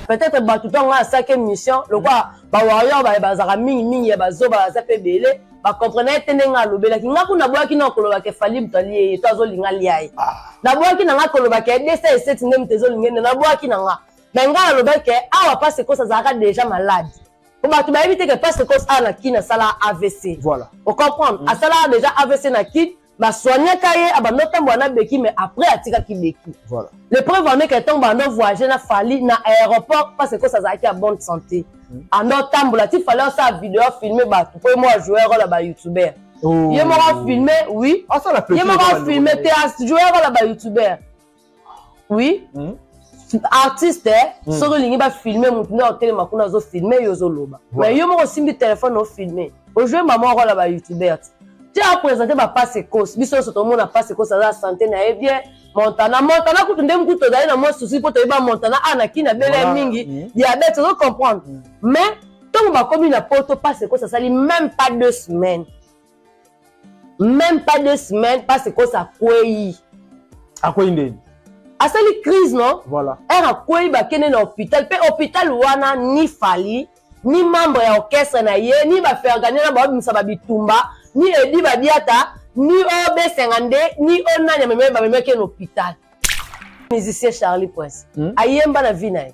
peut-être bato ntango ngai asaki émission lokola bawarrior baye bazalaka mingi mingi ya bazoba baza mpe ebele bakomprenaki te ndenge alobelaki ngai kuna naboyaki na koloba ke fali moto alie ye to azolinga lia ye ah. naboyaki na ngai koloba ke desa eseti nde moto ezolinga ende naboyaki na ngai me ngai nalobaki ke awa mpasi ekosi azalaka déjà malade po bato bayebi te ke mpasi ekosi awa na kini asala avc voilà. ocomprendre mm. asalaka déjà avc na kini ba soignaka ye abanda otambola na beki mais après atikaki beki voilà. le preuve en est que ntango banda ovoyage na fali na aéroport parce que azalaki ya bonne santé hmm. anda otambola ti fali osala video afilme bato mpo ye moko ajouer role ya bayoutubeur oh. ye moko afilme oui ye moko afilme te ajouer role ya bayoutubeur oui mm. artiste eh, mm. soki olingi bafilme motu nde otelema kuna azofilme yo ozoloba mais yo moko osimbi telefone ofilme ojue mama okola ba youtubeur ti ti apresente bapase kos biso nyonso tomona pase kos aza sante na ye bien montana montana kutu nde mokutu tozali na mwa susi mpo toyeba montana a na kina bele mingi mm. diabete ozo comprendre mm. mais ntango bakomi na poto pase kos asali même pas deux semaines Même pas deux semaines, pas c'est quoi ça, quoi À quoi il asali crise non voilà. ere akwei bakende na hôpital mpe hôpital wana ni fali ni membre ya orchestre na ye ni bafergania na babimisa babitumba ni edi badiata ni ob 52 ni o nani amemei bamemeki ye na hôpital musicien charlie prince hmm? ayemba na vie na ye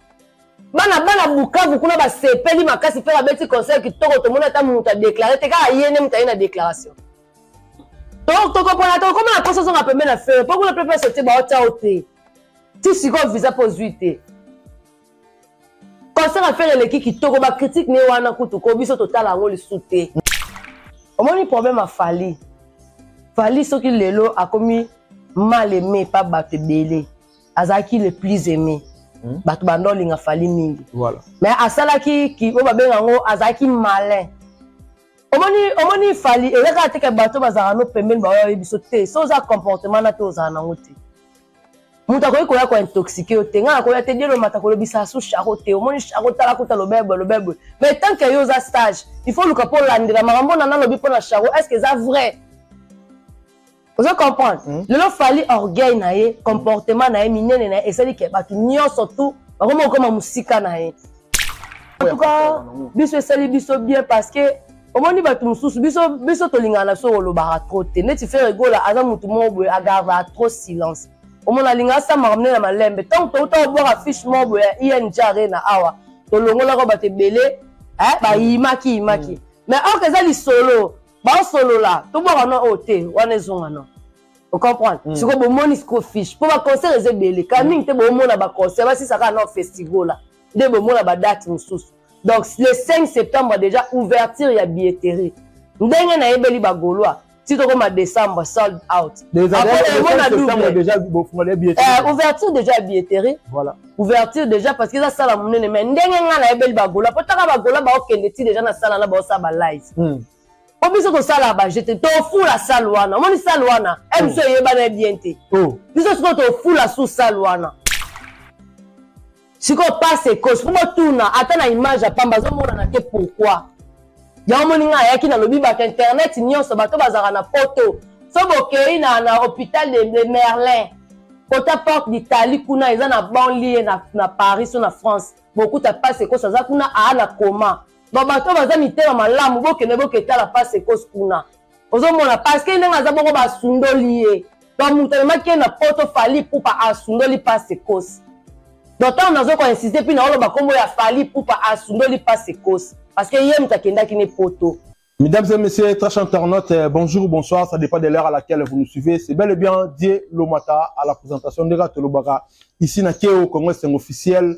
bana bana bukavu kuna basepeli makasi mpe babeti conseil kitoko tomoni ata moto adeklare te kaka ye nde moto aye na déclaration tokopona tokoma na poso zonga pembe na fere mpo kuna pepe sotie baotiao te ti sikoyo visa mpo ozwi te concert ya fere eleki kitoko bakritike ne wana kutu ko biso totala yango lisu te omoni problème ya fali fali soki lelo akomi mal aimé pa bato ebele azalaki le plus aimé hmm? bato banda olinga fali mingi voilà. mais asalaki oyo babenga yango azalaki malin omoni omoni fali eza kaka teke bato bazalaka no pembeni baoyo biso te so oza comportement na te ozala nango te moto akoki koya kointoxike yo te ngai nakoya te dielo mata kolobisa su charo te omoni charo tala kuta lobebwe lobebwe mais tant ke yo oza stage il faut oluka mpo olandela makambo na nalobi mpo na charo est ce que eza vrai ozo comprendre mm. lelo fali orgueil na ye comportement na ye minene na ye esali ke bato nyonso tu bakoma kokoma mosika na ye antuka biso esali biso bien parce que omoni bato mosusu biso biso tolingaka na biso kolobaka trop te neti fere egola aza motu moko boye agardaka trop silence omona alinga asambaka mine na malembe ntango touta kobwaka fiche moko boye ya ing arena awa tolongolaka bato ebele eh, bayimaki yimaki mm. mais orke eza lisolo baosolola tobwaka no oyo te wana ezonga no ocomprendre mm. sikoyo bomoni siko fiche mpo baconcert eza ebele ka mm. mingi te bomona baconcert basisa kaka no festigola nde bomona badate mosusu donc le 5 septembre déjà ouverture ya billetterie ndenge nayebeli bagolois ti tokoma décembre sold out ouverture déjà ya billetterie ouverture déjà parce que eza sala monene mais ndenge ngai nayebeli bagola mpo taka bagola baokende ti déjà na sala na baosala balive hmm. mpo biso tosala baje te tofula sale wana omoni sale wana e biso oh. eyebana ye bien te oh. biso sikoyo tofula su sale wana sikoyo pase ekosi mpo botuna ata na image ya pamba azomonana te pourquoi yango moni ngai ayaki nalobi bato internet nyonso bato bazalaka na poto so bokei na, na hôpital de, de merlin kota porte d'italie kuna eza na banlie na, na paris so na france bokuta pasi ekosi aza kuna aa na koma babato baza mitema malamu bokende boketala pasi ekosi kuna ozomona parceke ndenge aza bongo basundoli ye donc moto amemaki ye na poto fali pupa asundoli pase kosi donc ntango nazoki koinsiste mpi naoloba nkombo ya fali pupa asundoli pase kosi parceke ye moto akendaki ne poto Mesdames et messieurs, très chers internautes, euh, bonjour ou bonsoir, ça dépend de l'heure à laquelle vous nous suivez. C'est bel et bien Dieu Lomata à la présentation de Ratolobaka. Ici, na Keo, Congrès officiel,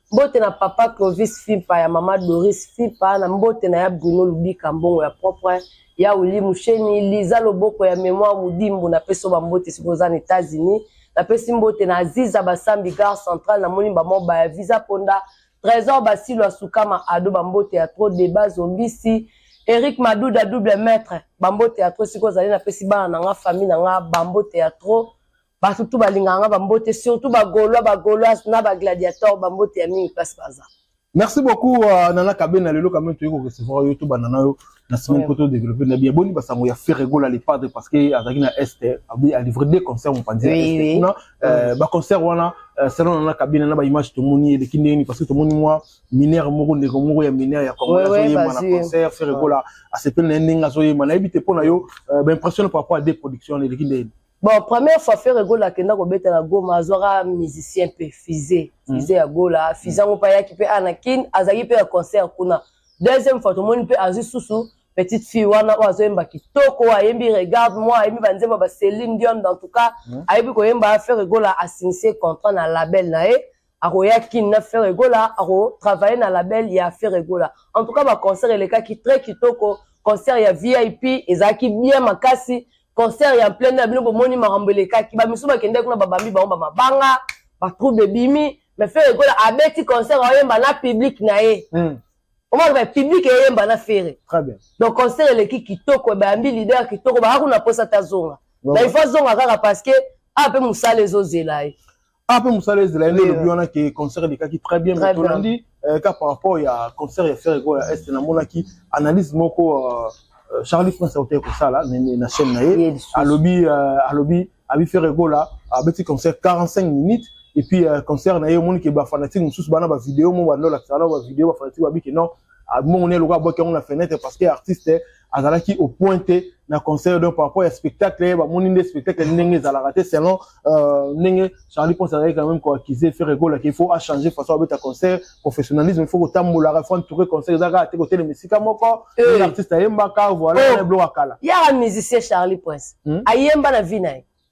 mbote na papa clovis fimpa ya mama doris fimpa na mbote na ya bruno lubika mbongo ya propre ya wili musheni liza loboko ya memoire mudimbu napesi oba mbote soki oza na etats-unis napesi mbote na aziza basambi gare centrale namoni bamobaya ya visa ponda trésor basilo asukama ado bambote ya tro deba zombisi eric maduda double maître bambote ya tro sikoyo ozali napesi bana na nga famille na nga bambote ya tro Bato tout balingaka nga bambote surtout bagolois bagoloise na bagladiator bambote ya mingi place baza. Merci beaucoup uh, Nana Kabena lelo quand même toyeko recevoir yo to banana yo na semaine poto développer na bien boni basango ya Ferregola le padre parce que azaki na est abi a livré deux concerts mon panzi oui, oui. euh, ba concert wana euh, selon Nana Kabena na ba image to moni eleki ndeni parce que to moni moi mineur moko ndeko moko ya mineur ya Congo oui, oui, ye mana concert Ferregola a sepel na ndenge azoyema na ebite pona yo euh, ba impression par rapport à des productions eleki ndeni Bon, première fois Ferre Gola akenda kobeta na Goma, azwaka musicien mpe Fize, hmm. Fize ya Gola, Fize yango mpe ayaki mpe ana Kin, azalaki mpe na concert kuna. Deuxième fois tomoni mpe azwi susu petite fille wana oyo azoyemba kitoko oyo ayembi regarde moi ayembi banzembo ba Celine Dion dans tout cas hmm. ayebi koyemba Ferre Gola asignise contrat na label na ye akoya kin na ferre gola akotravaille na label ya ferre gola en tout cas baconcert elekaki très kitoko concert ya vip ezalaki bien makasi concert ya plein ya bino bomoni makambo elekaki bamisusu bakendaki kuna babambi bango bamabanga batrouble ebimi mais ferre gola abeti concert ayemba na public na ye mm. omoni ba public eyemba na ferre donc concert eleki kitoko bayambi leader kitoko baka kuna mposa te azonga na ifo azonga kaka parce que awa mpe mosala ezozela ye Ah, pe musala ezela ye nde lobi wana ke concert elekaki très bien mais tolandi euh, ka par rapport ya concert ya ferre ko ya est namonaki analyse moko euh, euh, charlie france autaki kosala na chaîne na ye alobi alobi abi ferre gola abeti concert 45 minutes et puis concert na ye omoni ke bafanatique mosusu bana bavideo mo bandolakisa wana bavideo bafanatique babiki non mongo ne eloka abwaki yango na fenêtre parce que artiste azalaki au point te na conseil donc par rapport ya spectacle ye bamoni nde spectacle ndenge ezalaka te selon euh, ndenge charlie ponce azalaki quand même koaccuse ferre gola qu'il faut achanger façon abeta concert professionnalisme il faut kotambolaka il faut entoure concert eza kaka te kotelema esika moko eh. artiste ayembaka voilà oh. biloko ya kala yaka musicien charlie prince hmm? ayemba na vie na ye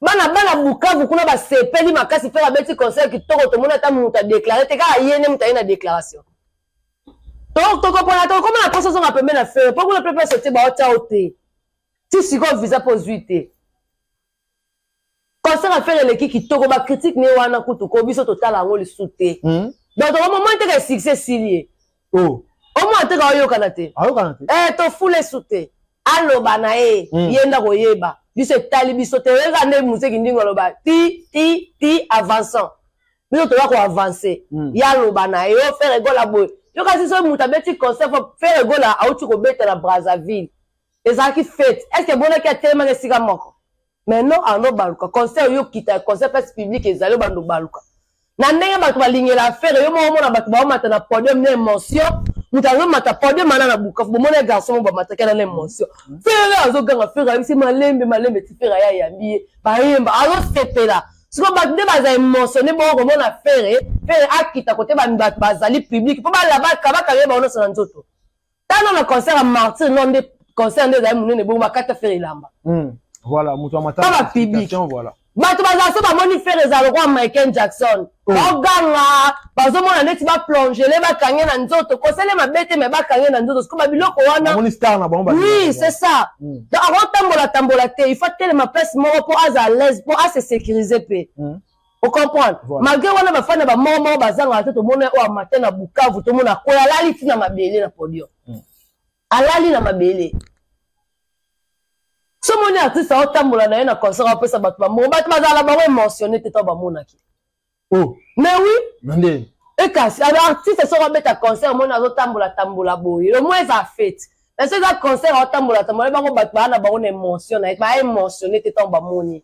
bana bana bukavu kuna basepeli makasi fere abeti conseil kitoko tomoni ata moto adeklare te kaka ye nde moto aye na déclaration tokopona tokokoma na poso azonga pembe na fere mpo kuna pepe sotie baotia o te ti sikoyo visa mpo ozwi te concert ya fere eleki kitoko bakritike ne wana kutu ko biso totala yango lisu te hmm? donc tokomoma nteke succès esili ye oh. omo ateka oyokana te ayokana te eh tofula esu te aloba na ye mm. ye nda koyeba biso etali biso te oyeka nde moseki ndingo aloba ti ti ti avançant biso toza koavance mm. ye aloba na ye o fere egola boye yokasi soki moto abeti concert fo fere egola auti kobeta na brazzaville ezalaki fete estce emonaki atelemaki esika moko mais non arno baluka concert yo kita concert place publique ezali obanda obaluka na ndenge bato balingela affaire yo moko omona bato baomata na podium na émotion moto azomata podium ana na bukafu bomona ye garçon moko bamataki ana na émotion mm. fere azoganga fere ayebisi malembe malembe ti fere aya ayambi ye bayemba azosepela siko bato nde baza émotionne bongo komona fere fere akita kote bato bazali publique mpo balabaka bakanga ye bango nyonso na nzoto tala na concert ya martyr no nde concert nde ezali monene bongo bakata fere elamba hmm. voilà moto ya matala ba public voilà bato bazala so bamoni fere ezala lokola michael jackson oh. baganga bazomona neti baplongele bakange na nzoto kosele mabe te me bakange na nzoto sikoba biloko wana oui c'est ça mm. donc akotambola tambola te il faut atelema place moko mpo aza à l'aise mpo ase sécurise mpe mm. ocomprendre voilà. malgré wana bafani na bamoko moko bazangaka te tomona oyo amata na bukavu tomona koyo alali ti na mabele na podium mm. alali na mabele somoni artiste aotambola na ye na concert apesa bato bambongo bato bazala na bango émotionne te to bamonaki oh. mais oui Mande. ekasi alors artiste soko abeta concert omoni azotambola tambola boye le moins eza fete na so eza concert aotambola tambola bango bato baa na bango na émotion na ye baa émotionne te ntango bamoni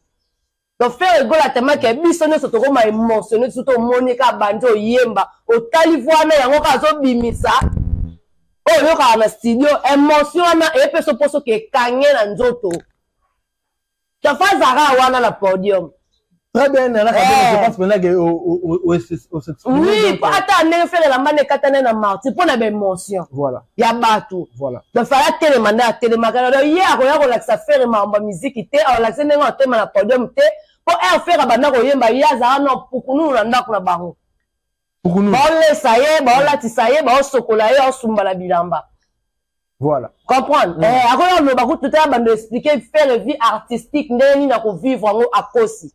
donc ferre gola atemaki ya biso nyonso tokoma émotionne biso tomoni kaka bandi oyemba otali vo wana yango kaka azobimisa oyo oyokaka na studio émotion wana epeso mposo kekange na nzoto tafa zara wana na podium très bien nana kabela eh. je pense maintenant que o s'exprime oui ata ndenge ferre elamba na ekatana na marti mpo na baémotion voilà ya bato voilà. donc fale atelema nde atelemaka na ye akoya kolakisa fere makambo ya miziki te akolakisa ndenge atema na podium te mpo r fere abanda koyemba ye azala na pukununu na ndako na bango baolesa ye baolatisa ye baosokola ye aosumba na bilamba voilà comprendre mm. eh, akoya koloba kutu te abanda explike fere vie artistique ndenge nini akovivre yango akosi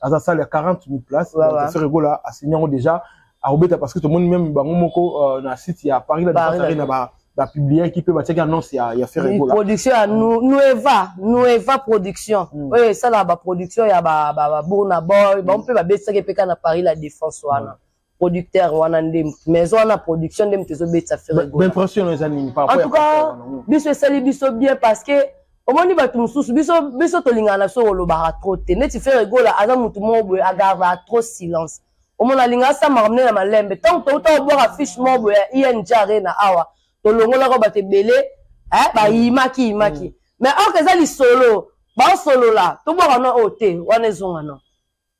aza salle ya 40 000 places ouais, ouais. Ferre Gola asigné yango déjà akobeta parce que tomoni même bango moko euh, na site ya Paris la Paris Arena ba ba publier qui peut batiaki annonce ya ya Ferre Gola production ya mm. Nueva Nueva production mm. oyo esala ba production ya ba ba, ba Burna Boy mm. ba mpe babesaki mpe na Paris la Défense wana mm. producteur wana nde maison wana production nde moto ezobetisa ferregoimpression eza nini en tout cas biso esali biso bien parce que omoni bato mosusu biso biso tolingana na biso kolobaka trop te neti ferregola aza motu moko boye agardaka trop silence omona alinga asambaka mne na malembe ntango touta kobwaka fiche moko boye ya ing arena awa tolongolaka bato ebele eh, bayimaki yimaki mm. mais orke eza lisolo baosolola tobwaka no oyo te wana ezonga no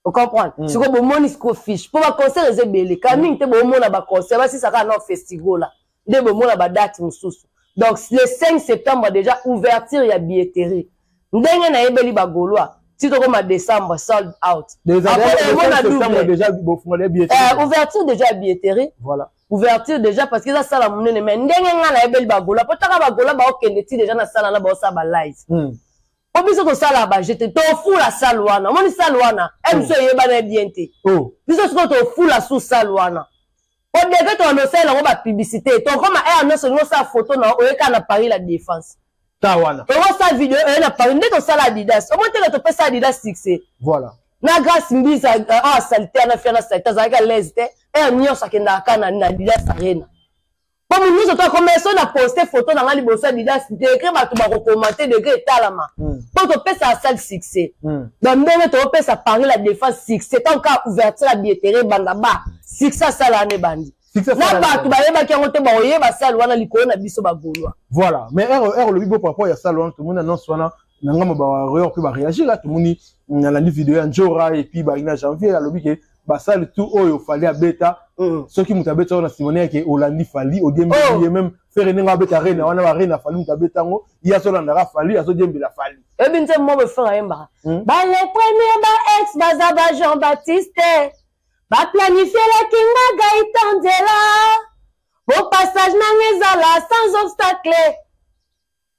ocomprendre mm. sikoyo bomoni sikoyo fiche mpo baconcert eza ebele ka mingi te bomona baconcert basisaka na festigola nde bomona badate mosusu donc le 5 septembre déjà ouverture ya billetterie ndenge nayebeli bagolois ti tokoma décembre sold out eh, ouverture déjà ya billetterie voilà ouverture déjà parce que eza sala monene mais ndenge ngai nayebeli bagolois mpo taka bagolois baokende ti déjà na sala na baosala balive mm. po biso tosala baje te tofula sale wana omoni sale wana mso oh. eyebana bien te oh. biso sikoyo tofula su sale wana po deke tokana osalela yango bapiblicité tokoma ere eh, nyonso olingi osala foto na oyekaka na paris la défense ta wana okosala video oye eh, na paris nde tosala adidas omoni teke topesa adidas succès voilà na grace mbiza awa euh, ah, salite ana fia na salite azalaki alaise te ere eh, nyonso akendaka ka na adidas arena po moto nyonso to akomela so na poste photo na ngai liboso ya didas degre bato bakokomante degre etalama po hmm. topesaka sale succès hmm. donc ndenge toopesa paris la défense succès ntango kaka ouverture ya bietere ebanda ba succès asala wana ebandi na bato bayebaki yango te bakoyeba sale wana likolo na biso bagolwa voilà mais ero olobi bo par rapport ya sale wana tomoni annonce wana na ngambo ba warrior mpe bareagir la tomoni nalandi video ya njora epuis balingi na janvier alobi ke basali tout oyo fali abeta mm. soki moto abeta yango na simone yake olandi fali odiembeli oh. ye meme fere ndenge abeta rena wana barena fali moto abeta yango ye azolandaka fali azodiembela fali ebi nze mobe fere ayembaka hmm? bale premier ba ex baza ba jean baptiste baplanifielaki nga gaitanzela bo passage nanga ezala sans obstacle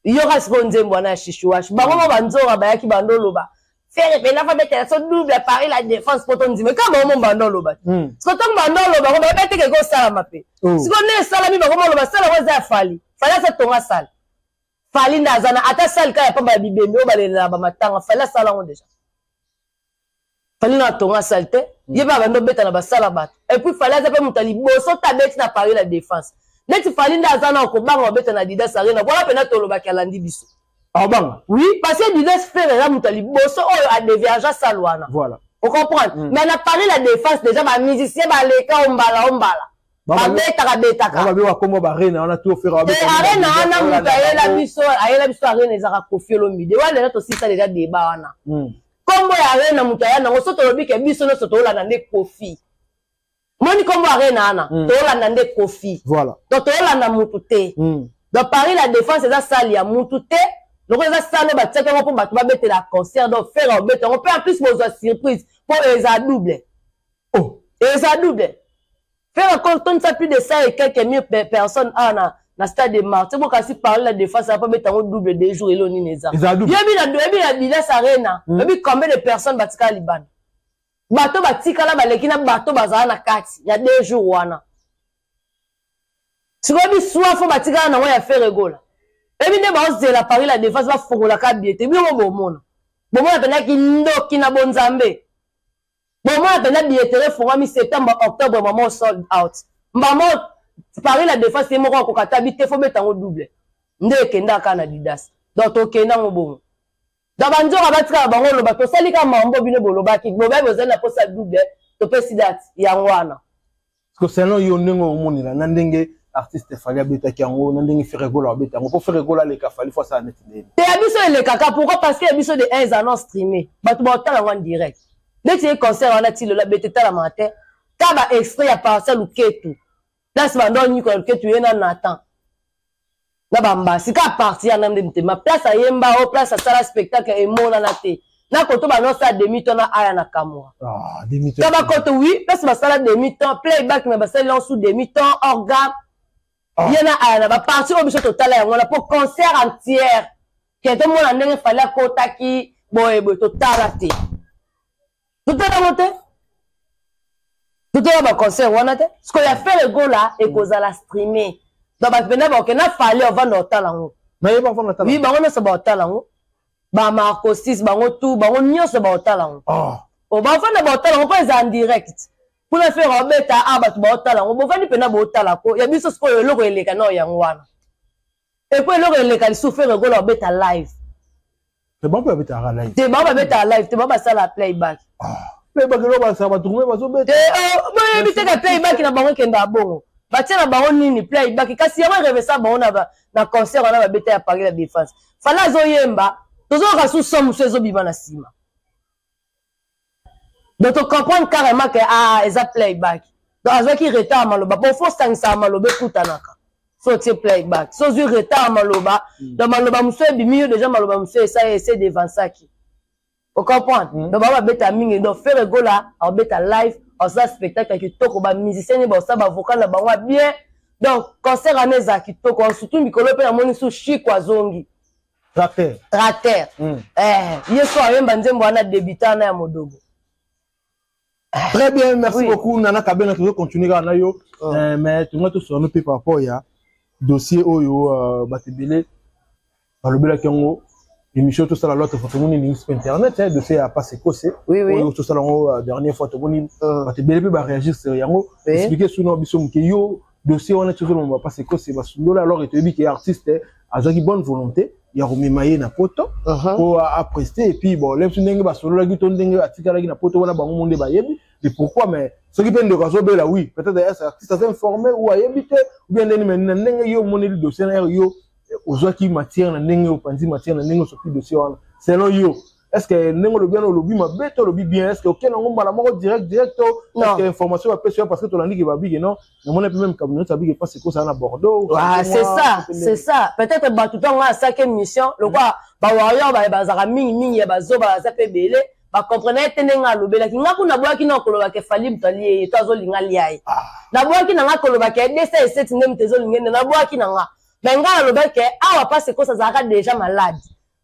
yoka sikoyo nzembo wana ya shishuash bango ma banzora bayaki bando oloba fere mpena fa betela so double appareil la défense mpo tondima kaka bango mo bando oloba te hmm. siko ntango bando oloba ngo bayebi te keke osalama mpe oh. siko nde esalami bango ma oloba sala ngo eza ya fali fali asa tonga sala fali nde aza na ata sali kaka ya pamba ya bibembe oyo balelelaka bamatanga fali asala yango deja fali na atonga salite mm. ye mpe abandi obeta na basala bato epuis fali aza mpe moto ya liboso te abeti na paris la défense neti fali nde aza na okobanga obeta na didas arena wana mpenza tolobaki alandi biso abanga ah, oui parce que didas frere aza moto ya liboso oyo adeviagea sale wana voilà ocomprendre mm. mais na paris la défense déjà bamusicien baleka ombala ombala babetaka betaka babe bakoma barena wana to fera babe eh, arena wana moto ayela biso ayela biso arena ezaka kofi olomide wana lelo tosisa deja deba wana hmm. kombo ya arena moto aya nango so tolobi ke biso nyonso toolanda nde kofi moni kombo arena wana hmm. toolanda nde kofi voilà donc toolanda motu te hmm. donc paris la défense eza sale ya motu te lokola eza sale batiaki yango mpo bato babetela concert donc fera obeta yango mpe en plus bozwa surprise mpo eza double Oh. Eza double. Ferre akontondisa plus de 100 et quelques mille personnes awa ah, na na stade de martyr bo kasi parler la défense apa beta ngo double deux jours elo nini eza yebi na yebi na bilas arena hmm. yebi combien de personnes batika libanda bato batikala baleki na bato bazala na kati ya deux jours wana sikoyo biswa fo batikala nango ya fere gola ebi nde baozela paris la défense bafongolaka bie te bino bomona bomona mpenza kindoki na bonzambe bomona mpenza billetterie efungwami septembre octobre mama sold out mbama paris la defense ye moko akoka ata bite fo beta yango double nde ekenda kaka na didas donc tokenda yango bongo donc banzoka batikala bango oloba tosali kaka mambo bino bolobaki bobebi ozali na mposa double topesi date yango wana Parce que selon yo ndenge omonela na ndenge artiste fali abetaki yango na ndenge feregola abeta yango mpo feregola aleka fali fo asala neti ndeni te ya biso elekaka pourquoi parce que ya biso de un eza non streame bato baotala yango en direct neti ye concert wana ti lelo abete talamaka te ka ba extrait ya parti ya luketu place bando nyiko ya luketu ye na nathan na bambasi kaka parti ya nande motema place ayemba o oh, place asala spectacle emonana te na koto banosala demi temps na aya na kamwa ah, na bakoto wi place basala demi temps playback me basali yango sous demi temps organe ah. ye na aya na baparti oyo biso totala yango wana mpo concert entière ke tomona ndenge fali akotaki boye boye totala te totala yango te totala baconcert wana te sikoyo ya fere gola ekozala streame donc bato mpenza baoke na fale ovanda otala yango oui bango nyonso baotala yango bamarcosis bango tu bango nyonso baotala yango ah. bafanda baotala yango mpo eza en direct kuna fere obeta a ah, bato baotala yango bofandi mpenza bootala ko ya biso sikoyo eloko eleka nao yango wana epo eloko eleka lisusu fere gola obeta live te bango babetaka live te bango babetaka live te bango basala playback ah, playback eloko basala batukume bazobeta te oh, boyebi te ka playback na bango ekendaka bongo batia na bango nini playback kasi yango erevesa bango na concert wana babeta ya paris la défense fala azoyemba tozoyoka susu son mosusu ezobima na nsima donc to comprendre carrément que ah eza playback donc azwaki retard maloba bon fo sangisaka maloba ekutanaka so otie playback so ozwi retard maloba mm. donc maloba mosusu ebimi yo deja maloba mosusu esa ese devansaki ocomprendre mm. donc bango babeta mingi donc fere gola akobeta live akosala spectacle ya kitoko bamusicien nde bakosala bavocal na bango ya bien donc concert wana ezala kitoko surtout mikolo mpe namoni su chiko azongi tracteur tracteur mm. eh, yesu ayemba nzembo wana debuta wana ya modobo eh. très bien merci oui. beaucoup nana kabena tozo continuer kaka na yo oh. eh, mais tolinga tosolola mpe par rapport ya dossier oyo uh, bato ebele balobelaki yango émission tosala lwa tofa tomoni lingi mpe internet eh, dossier ya passe ekose oui, oui. oyo tosala yango uh, dernière fois tomoni uh. bato ebele mpe baréagir sur yango oui. explike suna biso moke yo dossier wana tozolo mama pasi kose basundola alors que toyebi ke artiste eh, azwaki bonne volonté ya komema ye na poto mpo uh-huh. uh -huh. apreste epuis bon le biso ndenge basololaki to ndenge atikalaki na poto wana bango mo nde bayebi de pourquoi mais soki mpe ndeko azobela oui peut-être ya artiste aza informé ou ayebi te ou bien ndeni mai na ndenge yo omoneli dossier na ere yo eh, ozwaki matière na ndenge opanzi matière na ndenge osoki dossier wana selon yo est ce que ndenge olobi wana olobi mabe to olobi bien est ce que oke nango mbala moko direct direct to est ce que information bapesi yo parce que tolandi ke babike non namona mpe meme kabu nyonso abike mpasi ekosala na bordeaux ah, c'est ça c'est ça peut-être bato ntango nga asaki émission lokola bawarrior baye bazalaka mingi mingi ya bazoba baza mpe ebele bakomprenaki te ndenge alobelaki nga kuna naboyaki na kolobaka efali moto alie ye to azolinga lia ye ah. naboyaki na nga kolobaka ye desa eseti nde moto ezolinga ende naboyaki na nga me nga nalobaki awa mpasi ekosa azalaka deja malade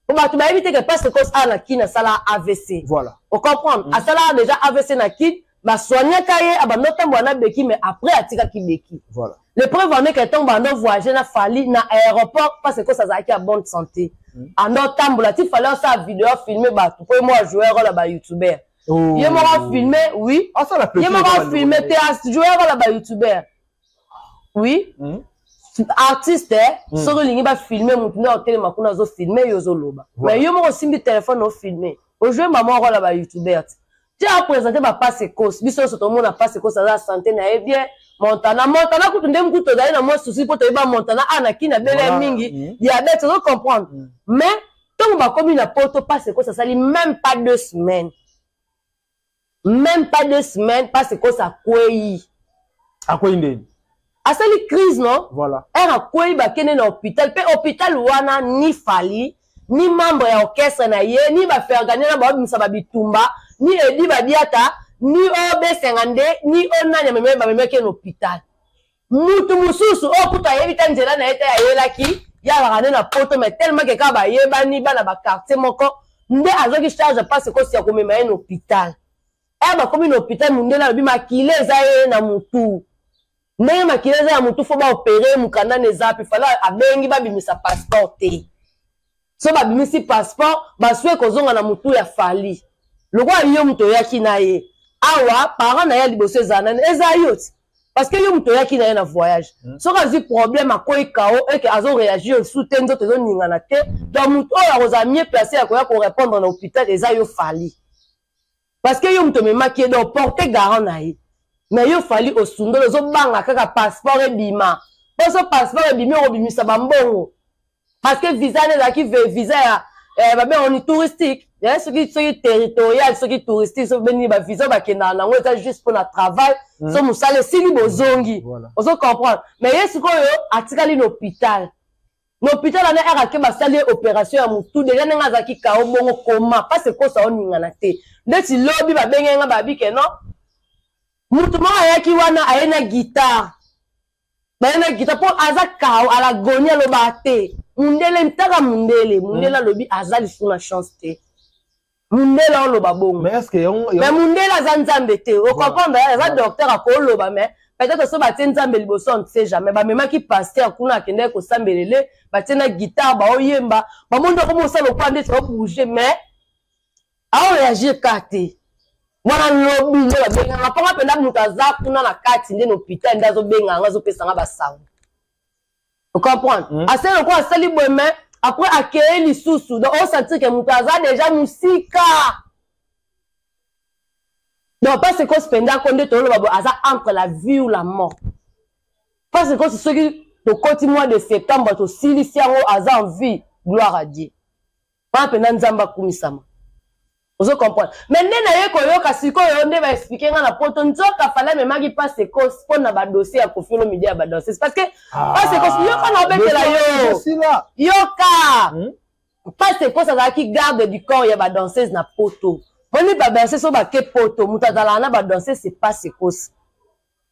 po bato bayebi te ke pastre cos awa na kin asala avc voilà. ocomprendre mm. asalaka déjà avc na kin basoignaka ye abanda otambola na beki mais après atikaki beki voilà. le preuve en est que ntango banda ovoyage na fali na aéroport parce cos azalaki ya bonne santé mm. anda otambola ti fali osala video filme bato po ye mo ajouer role ya bayoutubeur oh. ye moko afilme oui ye moko afilme te ajouer role ya bayoutubeur oui mm. artiste eh, mm. soki olingi bafilme motu nde otelema kuna azofilme yo ozoloba voilà. mais yo moko osimbi telefone ofilme ojue mama okola ba youtuber ti ti apresente bapasi ekosi biso nyonso tomona pasi ekosi aza sante na ye bien montana montana kutu nde mokutu tozali na mwa susi mpo toyeba montana a na kina bele voilà. mingi mm. diabete ozo comprendre mm. mais ntango bakomi na poto pasi ekosi asali même pas deux semaines meme pas deux semaines pasi kosa akwei akwei ndeni asali crise non voilà. ere akwei bakende na hôpital mpe hôpital wana ni fali ni membre ya orchestre na ye ni bafergania na babimisa babitumba ni edi badiata ni ob 52 ni onani amemaki bamemaki ye na hôpital mutu mosusu oyo kutu ayebi ta nzela na ye te ayelaki ye azalaka nde na poto mai tellement ke kaka bayebani bana baquartier moko nde azwaki charge mpasi kosi ya komema ye na hôpital ere bakomi na hôpital mondele alobi makila eza ye na motu ndenge makila eza ya motu fo baopere mokanda na eza mpe fala abengi babimisa passeport te so babimisi passeport basue kozonga na motu ya fali lokola yo moto oyaki na ye awa parent na ye ya liboso ezala nani ezala yo ti parce que yo moto oyaki na ye na voyage hmm. soki azwi problème akwei kao eke azoreagir lisusu te nzoto ezoningana te donc moto oyo akozala mieux place ya koya korépondre na hôpital eza yo fali parce que yo moto omemaki ye donc porte garant na ye mais yo fali osundoli ozobanga kaka passeport ebima poso passeport ebimi okobimisa bambongo parce que visa nde ezalaki visa ya eh, babengo ni touristique eh, soki soki territorial soki touristique soki benini bavisa oyo bakendaka nango eza juste mpo na travail mm. so mosala esili bozongi voilà. ozo comprendre mais ye sikoyo atikali na hôpital L'hôpital ana aka ke basali ye operation ya mutu deja ndenge azalaki kao bongo koma pasi ekosa oningana te ndeti lobi babengeli nga babi ke non mutu moko ayaki wana aye na guitare baye na guitare mpo aza kao alagoni alobaka te mundele ntaka mundele mundele hmm. alobi aza lisusu na chance te mundela oloba bongo mais eske yango mais mundela aza nzambe te o comprendre eh, aza docteur akoloba mais peut-être so batie nzambe liboso on ne sait jamais bamemaki pasteur kuna akendaki kosambelele batie na guitare baoyemba bamoni oko mosala okwa nde tika bouge mais aoreagir ka te mwana lobi nde babenganga mpo nga mpenza moto aza kuna na kati nde na hôpital nde azobenganga azopesa nga basango ocomprendre mm. asali lokola asali boye me après akeye lisusu donc osentir ke moto aza deja mosika donc mpasi ekosi mpenza ko nde toloba boye aza entre la vie ou la mort mpasi ekosi soki tokoti mois de septembre tosilisi yango aza en vie gloire à dieu wana mpenza nzambe akumisama ozo comprendre mais nde naye koyoka sikoyo nde baexplike nga na poto nzoka fale amemaki pasekos mpo na badossier ya kofiolo midi ya badanses parce que ah, pasekos yoka na obetela yo yoka hmm? pasekos azalaki garde du corps ya badanseuse na poto moni badanseuse oyo bake poto moto azalaka na badanseuse se pasekos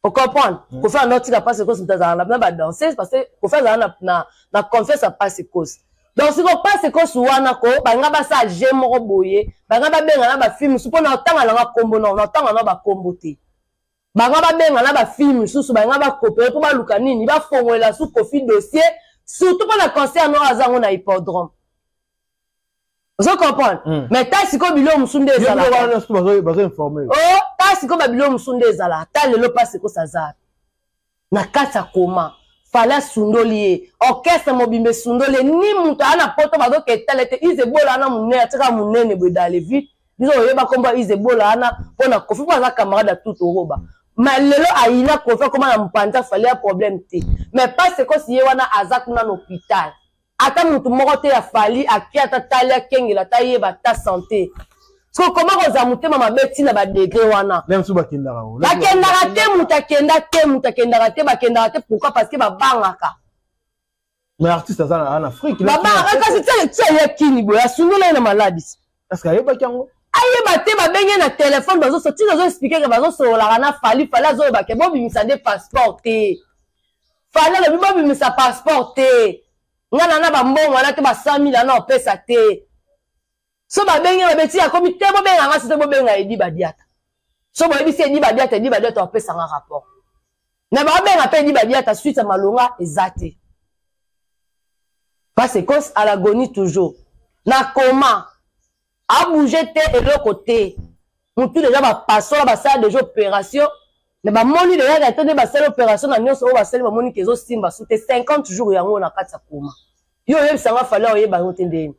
ocomprendre mm. kofi anao tika pasi kosi moto azalaka na badanseuse parce que kofi azalaka na, na confiance ya pasi kosi donc siko pasi kosi wana ko balinga basala je moko boye balinga babenga na bafilme mosusu mpo na otanga nanga nkombo nao na otanga nao bankombo te bango babenga na bafilme mosusu balinga bakopere mpo baluka nini bafongolela su kofi dossier surtout mpo na concert nao aza yango na hippodrome ozo comprendre mm. mais ta sikoyo biloko mosusu nde ezalabazoinforme oh, ta sikoyo babiloko mosusu nde ezala ata lelo mpasi ekosa aza na kati ya koma fale asundoli ye orchestre mobimba esundoli ye ni moto aya na poto bazoka etala ete izebola wana monene atika monene boye dans le vide biso oyeba nkombo ya izebola wana mpo na kofi mpo aza camarade ya tout oroba ma lelo ayina kofi akoma na mpanza fale ya problème te mais pas sekosi ye wana aza kuna na hôpital ata mutu moko te ya fali ake ata tali akengela ata yeba ata sante kokoma kozala motema mabe ntina badegre wana bakendaka te moto akenda te moto akendaka te bakendaka te pourkui parce que babangaka babangaka kasi tia ye kini boye asundola ye na maladis Parce que ayebaki yango. Ayeba te babenge na telefone bazoso tina azo explike ke bazosololaka na fali fali azoloba ke bobimisa nde passeport te fali alobi bobimisa passeport te nga na na bambongo wana te ba 100 mille ana opesa te so babenge babeti akomi te bobenga nga sote bobenga edi badiata so boyebisi edi badiata edi badiata opesanga rapport na babenga mpe libadiata suite ya malonga eza te parce cause à l'agonie toujours na koma abouge te eloko te motu deja bapasola basala deja opération me bamoni deja na to nde basali opération na nyonso oyo basali bamoni ke ezosimba su te 50 jours yango na kati ya koma yo oyebisa nga fale oyeba yango te ndeni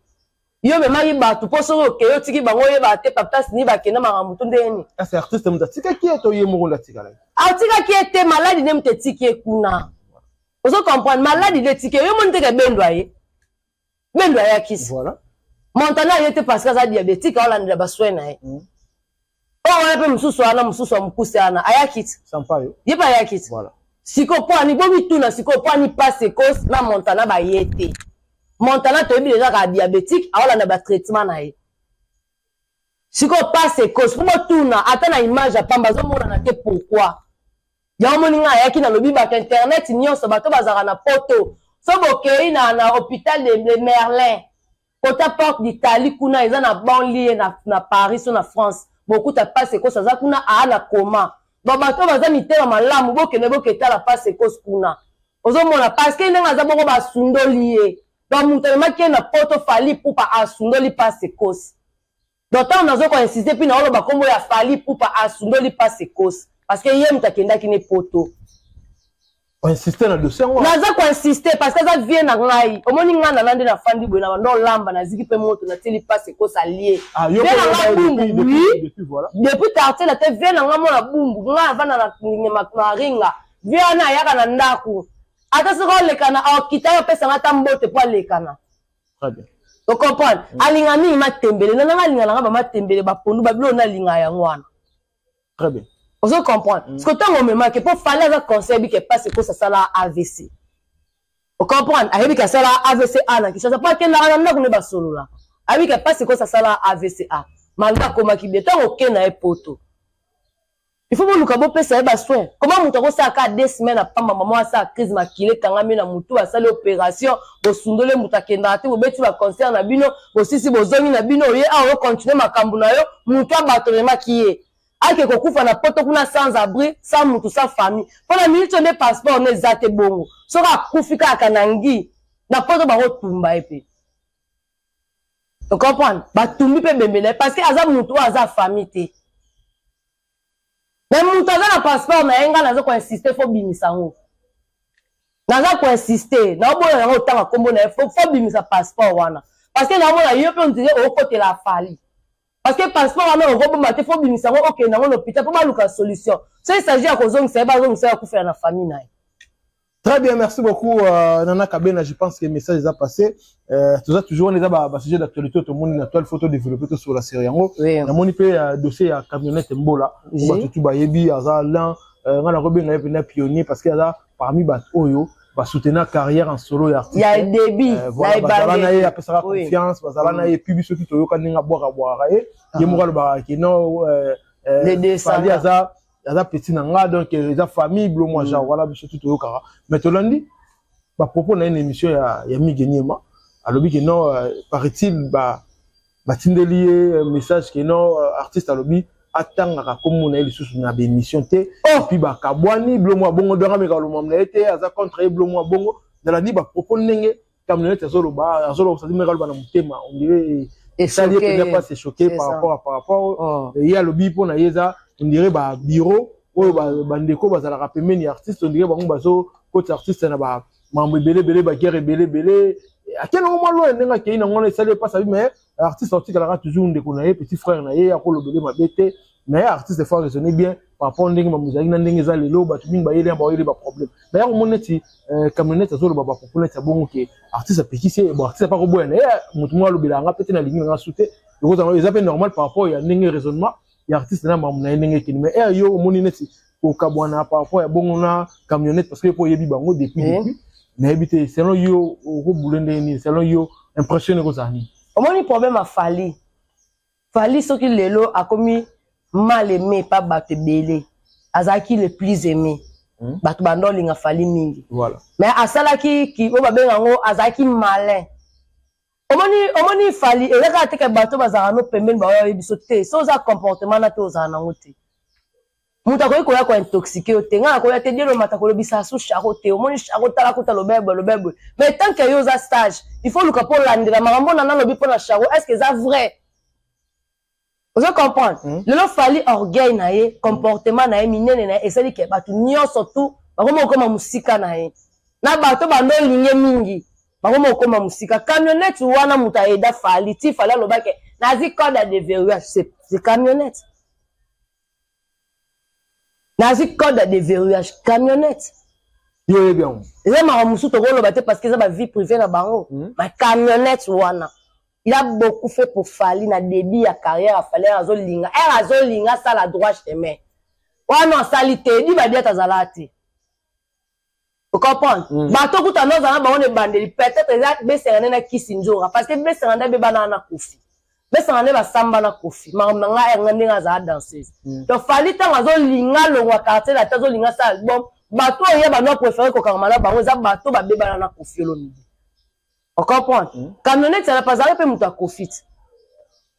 yo omemaki bato mpo soki okei otiki bango oyebaka te paptas ni bakenda makambo to ndenge nini kasi artiste moto atikaki ye to ye moko nde atikalaki atikaki ye te maladi nde moto etiki ye kuna ozo comprendre maladi nde etiki ye yo moni teke bendo aye bendo ayakisi voilà. montana aye te parce que aza diabétique aolandela baswin na ye mm. oyo wana mpe mosusu wana mosusu ya mokuse wana ayaki ti ye mpe ayaki ti sikoyo mpo ani bomituna sikoyo mpo ani mpasi ekose na montana baye te montana toyebi deja kaka diabétique aolanda batraitement na ye sikoyo mpasi ekose mpo botuna ata na image ya pamba azomonana te pourkui yango moni ngai ayaki nalobi bato internet nyonso bato bazalaka na poto so bokei na, na hôpital de, de merlin kota porte d'italie kuna eza na banlie na, na paris so na france bokuta pasi ekosi aza kuna aa na koma bon bato oyo baza mitema malamu bokende boketala pasi ekosi kuna ozomona parceke ndenge aza bongo basundoli ye bamoto amemaki ye na poto fali pupa asundoli pasi ekosi donc ntango nazo ko insiste mpe naoloba nkombo ya fali pupa asundoli mpasi ekosi parce que ye moto akendaki ne poto oinsiste na dossier yango naza koinsiste parce que aza vie na ngai omoni ngai nana nde nafandi boye na banda olamba naziki mpe moto natieli mpasi ekosa lie ah, vie na ngai bumbu wi depuis quartier na te vie na ngai mona bumbu ngai avanda na ringa vie wana ayaka na ndako ata soki olekana akitaka apesanga ata mbote mpo alekana très bien ocomprendre mm. alinga mingi matembele na nanga alinga nanga bamatembele bapondu babilo na alinga yango wana très bien ozo comprendre mm. siko ntango omemaki mpo fale aza conseil bike mpasi ekosa asala avc ocomprendre ayebi ke asala avc a na kinshasa mpo akendaka na ndako nde basolola ayebi ke mpasi ekosa asala avc a malgre akomaki bie ntango oke na ye poto il faut boluka bopesa ye basoin koma moto akosala kaka de semaine apamba mama asala crise makila ekangami na motu asali opération bosundole moto akendaka te bobeti baconcert na bino bosisi bozongi na bino oye awa ocontinue makambo na yo motu abatonemaki ye ake kokufa na poto kuna sans abri sans motu sans famille mpo na minute oyo nde passeport no eza te bongo soki akufi kaka na ngi na poto bakotumba ye mpe ocomprendre batumbi mpe bembe na ye parce que aza motu oyo aza famille te me motu aza na passeport na ye ngai naza koinsiste fo bimisa yango naza koinsiste naoboya yango otanga nkombo na ye fo bimisa passeport wana parce que naomona yo mpe ondire okotela afali parce que passeport wana okobomba te fo obimisa yango okende yango na hôpital mpo baluka solution so esagi ya kozongisa ye bazongisa ye akufela na famille na ye Très bien, merci beaucoup euh, Nana Kabena. Je pense que le message est passé. Euh, tout ça, toujours, on est à un sujet d'actualité. Tout le monde a une photo développée tout sur la série. On a mon euh, dossier à camionnette Mbola. On va tout bayebi, aza l'un. Euh, on a un pionnier parce qu'il y a parmi bat oyo ba soutenir carrière en solo ya artiste ya début euh, voilà, bazala na ye apesaka oui. confiance bazala na ye mm. puis soki toyoka ndenge abwaka bwaka ye ye moko alobaka ke non euh, euh, fali aza aza petit na nga donc euh, eza famille blo mwa genre mm. wana biso tu toyokaka mais tolandi bapropos na ye na émission ya, ya migeniema alobi ke non euh, paraît-il ba batindeli ye euh, message ke non euh, artiste alobi atangaka kombo na ye lisusu na baémission te oh! epuis bakabwani blomo abongo donga meka lomamo na ye te aza contre ye blomo abongo zala ni bapropos ndenge camionnete azoloba azoloba osadi meka aloba na motema ondire esali ye mpenza mpa se choquer par rapport à par rapport oh. ye alobi mpo na ye eza ondire babureau oyo bandeko bazalaka pembeni ya artiste ondire bango bazokotisa artiste na ba mambo ebele ebele ba guerre ebele ebele ake nango mwa loye ndenge akei nango wana esali epasa bi mais artiste aotikalaka toujours ndeko na ye petit frère na ye akolobele mabe te mais artiste faut raisonner bien par rapport ndenge mambo ezalaki na ndenge eza lelo bato mingi bayeli ya bayeli baproblème daya komoni neti euh, camionnette azoloba bapopo neti ya bongo ke artiste apekisi ye bon artiste apakoboya na ye moto moko alobela yanga mpe te nalingi nanga su te ekozanga eza mpe normal par rapport ya ndenge raisonnement ya artiste na mamu na ye ndenge ekende mais ere yo omoni neti kokabwana par rapport ya bongo na camionnette parce que po oyebi bango depuis eh. depuis nayebi te selon yo okobule ndenge nini selon yo impression ekozala nini omoni problème ya fali fali soki lelo akomi mal aimé pa bato ebele azalaki le plus aimé hmm? bato banda olinga fali mingi voilà. mais asalaki oyo babenga yango azalaki malin omoni omoni fali eza kaka teke bato bazalaka no pembeni baoyo bayebi biso te so oza comportement na te ozala nango te moto akoki koya kointoxike yo te ngai nakoya te dielo mata kolobisa su charo te omoni charo tala kuta lobebwe lobebwe mais tant ke yo oza stage il faut luka mpo olandela makambo nana alobi mpo na charo est ce que eza vrai ozo comprendre mm. lelo fali orgueil na ye comportement na ye minene na ye esali ke bato nyonso tu bakomi kokoma mosika na ye na bato bando olinge mingi bakomi kokoma mosika camionnette wana moto aeda fali ti fali alobake nazi code ya deverrouillage se camionnette nazwi code ya deverrouillage camionnette yoyebi yango eza makambo mosusu tokoloba te parce que eza bavie privé na bango hmm. ma camionnette wana il a beaucoup fait pour fali na début ya carrière ya fali azolinga ere azolinga asala droit chemin wana asali te di badiata azalaka te ocomprendre mm. bato okuta nde ozala na bango na ebandeli peut-être eza besanga nde na kisi nzonga parce que besanga nde abebana na kofi besanga nde basamba na kofi makambo na ngai yanga ndenge azala danseuse mm. donc fali ntango azolinga longwa quartier lati azolinga sa album bato oyo ye bano apréféré kokangama na bango eza bato babebana na kofi olomide ocomprendre mm. camionete alapa azalaki mpe moto ya kofite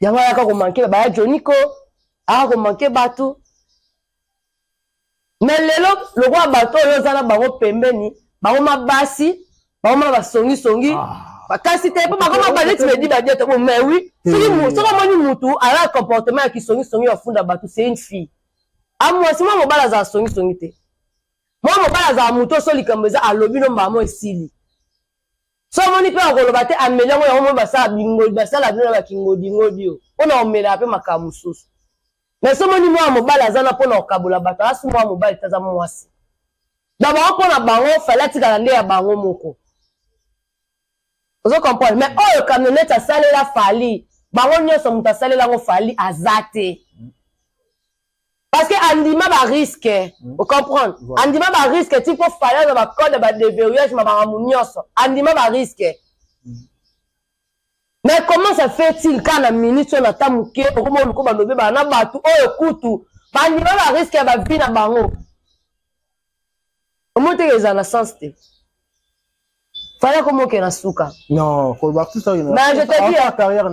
yango ayaka komanke baya joniko aya komanke bato me lelo lokola bato oyo oza na bango pembeni bango ma basi bango ma basongisongi ah. kasi te mpo bakoma baneti bedi badiata bo mais oui soki hmm. soki omoni mutu aza comportement ya kisongisongi ya funda bato c'est une fille amwasi ah, mwa mobali azala songisongi te mwa mobali azala moto oso likambo eza alobi no mbala mo esili so omoni mpe akoloba te ameli yango yango moi basala bingodi basala bino na bakingodingodi oyo mpo na omelaka mpe makambo mosusu mais so omoni mwana mobali aza na mpo na kokabola bato aza so mwana mobali te aza mwasi donc bango mpo na bango fale atikala nde ya bango moko ozo comprendre mais oyo camionete asalela fali bango nyonso moto asalela yango fali aza te parce que andima ba risque mm. o comprendre voilà. andima ba risque ti mpo fale aza bacode ba déverrouillage ma makambo nyonso andima ba risque mm. mais comment ça fait il ka na minute oyo na ta moke okoma oluko balobi baa na bato oyo oh, kutu bandima ba risque ya bavie na bango omoni teke eza na sens te fala komi oke na suka carrière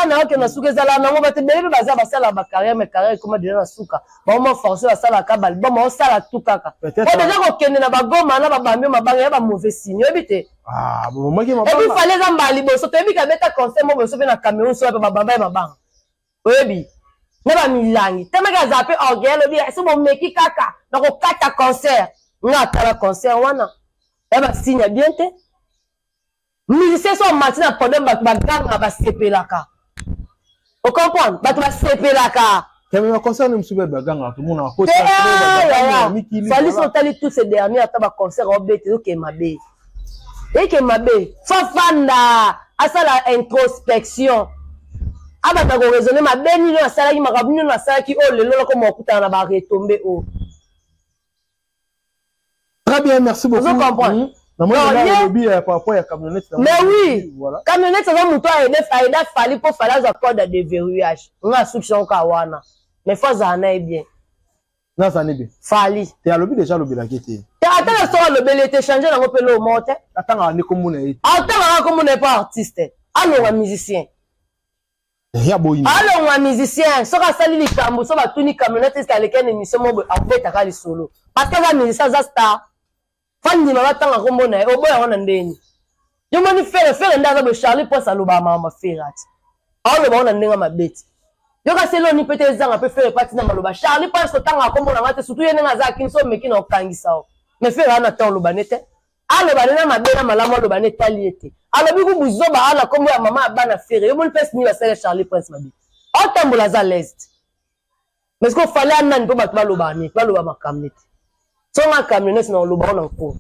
na yo oke na suka ezala nango bato ebele mpe baza basalaka bacarrière ma carrière ekoma deja na suka baoma force basalaka balbom baosala tu kaka o deja kokende na bagoma na babambi o mabanga ya bamauvais signe oyebi te ah, ebi fale eza mbala liboso toyebi kabeta conseil mo boso mpe na cameroun soya mpe babamba ya mabanga oyebi na ba milangi temeke azala mpe orgueil alobi ese bomeki kaka na kokata concert nga atala concert wana ya basigne ya bien te musicien so amati na podium bato baganga basepelaka ocomprendre bato basepelaka fali so otali tout ce dernier ata baconcert obete ezokee mabe eke mabe fafanda asala introspection abanda koraisonne mabe nini oyo asalaki makambo nini oyo asalaki oyo lelo lokoma okutana na baretombe oyo très bien merci beaucoup hmm. mais oui camionnette aza moto aeda fali mpo fali azwa code ya deverrouillage nga asuki sango ka wana mais fo azala na ye bien nazani be fali te alobi deja alobelaki ete ata na soko alobeli ete change nango mpe loo moko te atangaka nde komona ye atangaka komona ye mpo artiste alonga musicien eh, alongwa musicien soki asali likambo so batuni camionete eske aleki na émission moko akobetaka lisolo parce que aza musicien aza star Fally ndima ba tanga kombo na ye oboya yango na ndenge yo moni fere fere nde aza boye charlie prince alobaka mawa mafere ati aoloba ngo na ndenge mabe ti yoka se eloni mpe te ezanga mpe fere mpe atina maloba charlie prince kotangaka kombo na nga te surtout ye ndenge aza akinso omeki na okangisa yo mais fere ana ta oloba ne te aloba nde na mabe na malamu aloba nde etali ye te alobi ku buzoba aa na nkombo ya mama ya bana fere yo moni mpesi nini basala charlie prince mabe aotambola aza leste mais sikoyo fale ya nani mpo bato baloba neti baloba makambo neti songa camionete na oloba ona nko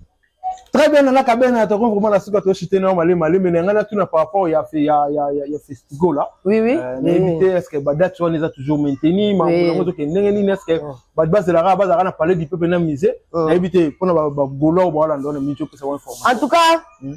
très bien nana kabena na toko vraiment na suka to chite na mali mali mais nanga na tuna par rapport ya ya ya ya festival là oui oui euh, na éviter est-ce que ba date wana eza toujours maintenu ma ngo to kendenge nini est-ce que oh. ba base la ba za na parler du peuple na musée oh. na éviter pona ba golo ba la ndona mi to pesa information en tout cas hmm.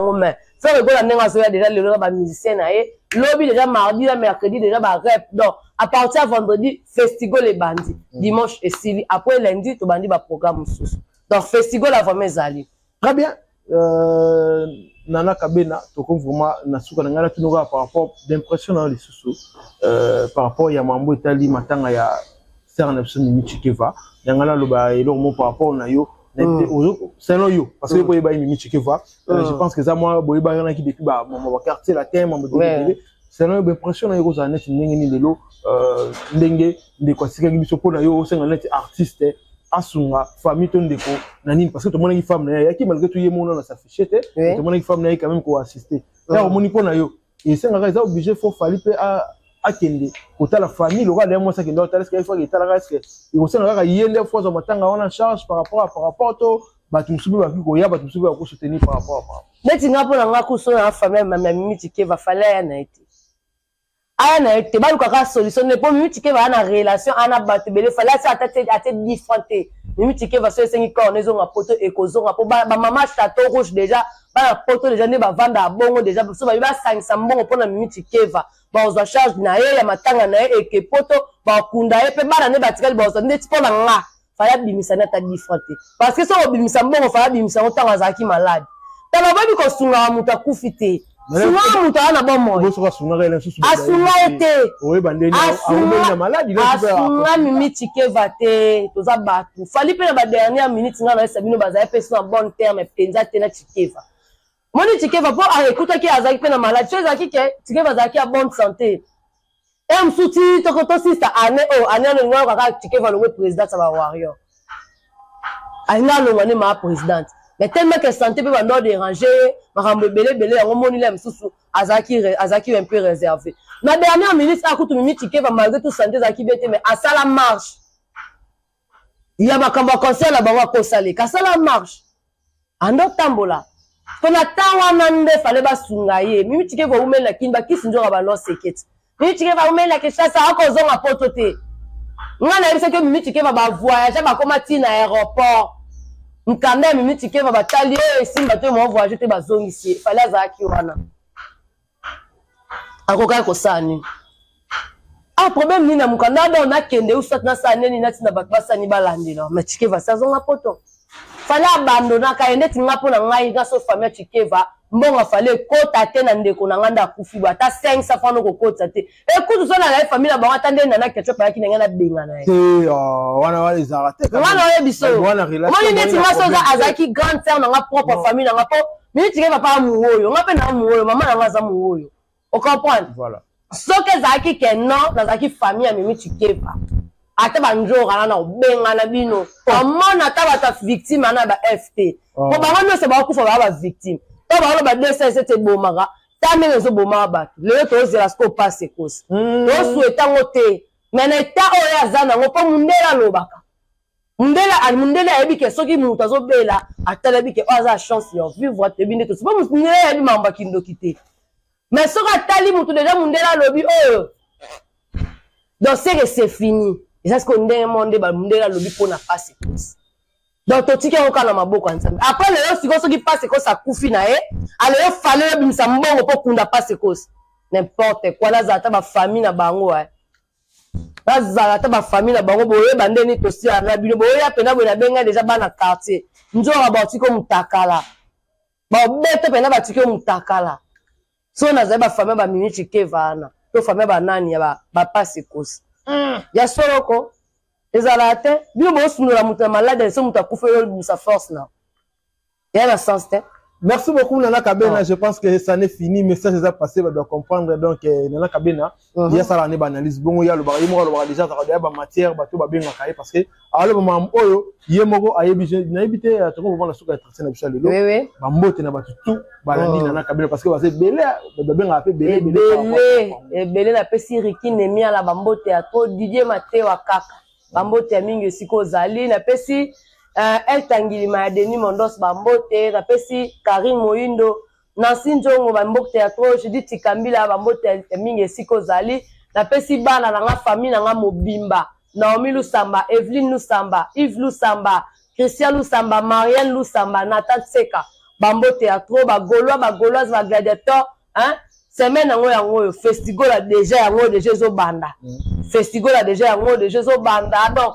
yango mais frère ekola ndenge azoya deja lelo na bamusicien na ye lobi deja mardi na mercredi deja barep donc à partir ya vendredi festival ebandi mm. dimanche esili après lundi tobandi baprogramme mosusu donc festival ya vraiment ezali très bien euh, nana kabena tokomi vraiment na suka na ngai natuni kaka par rapport d'impression na yo lisusu euh, par rapport ya mambo etali matanga ya star na biso mimi chikeva yanga naloba eloko mo par rapport na yo selon yo parce que boyeba ye mimi chikeva je pense que eza mwa boyebakanaki depuis bamama baquartier latin mambo ebele selon yo baimpression na yo ekozala neti ndenge nini lelo euh, ndenge ndeko asikaki biso mpo na yo osenga neti artiste asunga famille to ndeko na nini parce que tomonaki femme na ye ayaki malgré tout ye mona na s'affiche te tomonaki femme na ye quand même koassiste ya omoni mpo na yo esengaka eza oblige fo fali mpe akende kotala famille lokola leye mwasi akende otala eske ifo etalaka eske ekosenga kaka ye nde fo azwa matanga wana en charge par rapport à par rapport to bato mosusu mpe bakoki koya bato mosusu mpe bako soutenir par rapport à par rapport neti nga mpo na nga kuso na famille mami ya mimi tikeva fale aya na ye te aya na ye te balukaka solution nde mpo mimi tikeva aya na relation aya na bato ebele fale asi ata te ate difran te mimi tikeva so esengi corne ezonga poto ekozonga mpo bamama chateau rouge déjà bana poto deja nde bavandaka bongo deja biso babi basangisa mbongo mpo na mimi tikeva bakozwa charge na ye ya matanga na ye eke poto bakunda ye mpe bana nde batikali bakozwa ndeti mpo na nga faya abimisani ata difra te parce que soki obimisa mbongo faya abimisa yango ntango azalaki malade tala boyebi kosungaka moto akufi te sunga moto aza na bomoi asunga ye te asunga mimi tikeva te toza bato fali mpe na ba dernière minute ngai nayesa bino bazali mpe so na bonne terme mpenza te na chikeva moni chikeva mpo ah, ekutaki azalaki mpe na maladi so ezalaki ke chikeva azalaki ya bonne santé e mosusu ti toko tosista ane oyo ane alongi wana kaka chikeva alongwe présidente ya ba warrior alinga alongwa nde maa présidente mais tellement que santé mpe bando dérange ye makambo ebele ebele yango moni la mosusu azalaki un peu réservé na dernière minute akutu mimi chikeva malgré tout santé ezalaki bien te mais asala marche ya makambo ya concert na bango akosaleka asala marche ando otambola mpo na ntango wana nde fale basunga ye mimi tike kowumelela kini bakisi nzoka balosekete mimi tike bawumelela kinshasa akozonga poto te ngai nayebisaki mimi tikeva bavoyage bakoma ti na aéroport nkanda ya mimi tikeva batali oyo esimba te movoyage te bazongisi ye fale azalaki wana akokaki kosala nini ah problème nini na mokanda abao nakende usat nasala nini natina bato basani balandela ma chikeva si azonga poto fale abandonaka ye ndeti nga mpo na ngai naso famille ya chikeva mbongo afale ekota te na ndeko na ngai nde akufi bo ata 5 safana okokotisa te ekutu so na ngai famille na bango ata nde nana ketchup ayaki na ngai nabengana ye te oh, wana wana ezalaka te nga na oyebi so omoni neti nga so azalaki grande sœur na nga propre famille na nga mpo miniti ke papa amuoyo nga mpe na amuoyo mama na nga aza muoyo ocomprendre voilà. soki ezalaki ke non nazalaki famille ya mimi tikeva ata banjora na na kobengana bino oh. amona ata bato ya victime ana ba fp mpo oh. bango nyonso bakokufa baa ba victime to baoloba 2 sese te ebomaka ta ndenge ezoboma bato lelo tozela sikoyo mpasi ekosi mm. tosueta yango te me na eta oyo aza nango mpo mundele alobaka mundele mundele ayebi ke soki moto azobela atalabi ke oyo oh, aza chance ya vivre toyebi nde tosi mpo mundele ayebi mambo ya kindoki te me soki atali moto deja mundele alobi oyo oh, donc seke se fini eza sikoyo ndenge moko nde bamundele alobi mpo na mpasi ekosi donc totiki yango kaka na maboko ya nzambe apres lelo sikoyo soki pasi ekosi akufi na ye alelo fale oyebimisa mbongo mpo kunda pasi ekosi nimporte kua nazala ata bafamille na bango eh. bazala ata bafamille na bango boyeba nde nini tosila na bino boyeya mpena boye nabengai deja bana quartier nzora baotiki omutakala baobete mpena batiki omutakala so nazali bafami ya baminici keva wana to fami ya banani ya bapasi kosi mm. ya soloko ezalaka te bino bosundola moto na maladi ya liso moto akufa yo libusa force na eya na sens te merci beaucoup nana kabena ah. je pense que ça n'est fini message eza passé badoa comprendre donc eh, nana kabena Mhm. ye asalaka nde baanalyse bongo ye alobaka ye moko alobaka deja azalaka deya bamatière bato babengaka ye parce que aloba makambo oyo ye moko ayebi nayebi te euh, toko kovanda suka etrace na biso ya lelo bambote na bato tu balandi oh. nana kabila parce que baza ebele babengaka mpe ebele ebele napesi riki nemiala bambote ya to didie matewa kaka bambote ya mingi esika ozali napesi euh, eltangilima ya denis mondos bambote napesi karine moindo Nancy Njongo, ba mbokte ya trop, Judith Chikambila, ba mbote ya mingi esika ozali. Napesi bana na nga, famille na nga mobimba, Naomi Lusamba, Evelyne Lusamba, Yves Lusamba, Christian Lusamba, Marianne Lusamba, Nathan Tseka, ba mbote ya trop, ba Gaulois, ba Gauloises, ba Gladiateurs, hein? Semaine yango yango oyo, Festigola deja yango deja ezobanda. Mm. Festigola deja yango deja ezobanda. Donc,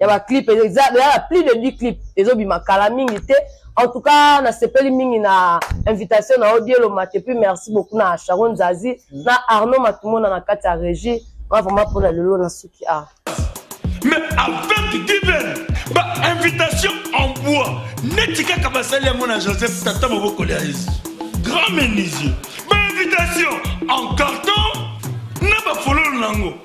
ya ba clip eza ya plus de 10 clip ezo bima kala mingi te en tout cas nasepeli mingi na invitation na odielo mate puis merci beaucoup na Sharon Zazi mm. na Arnaud Matumona na kati ya regie nga vraiment pona lelo na suki ah mais avec divin ba invitation en bois neti kaka basali yango na Joseph tata moboko ya Yesu grand menuisier ba invitation en carton na bafololo nango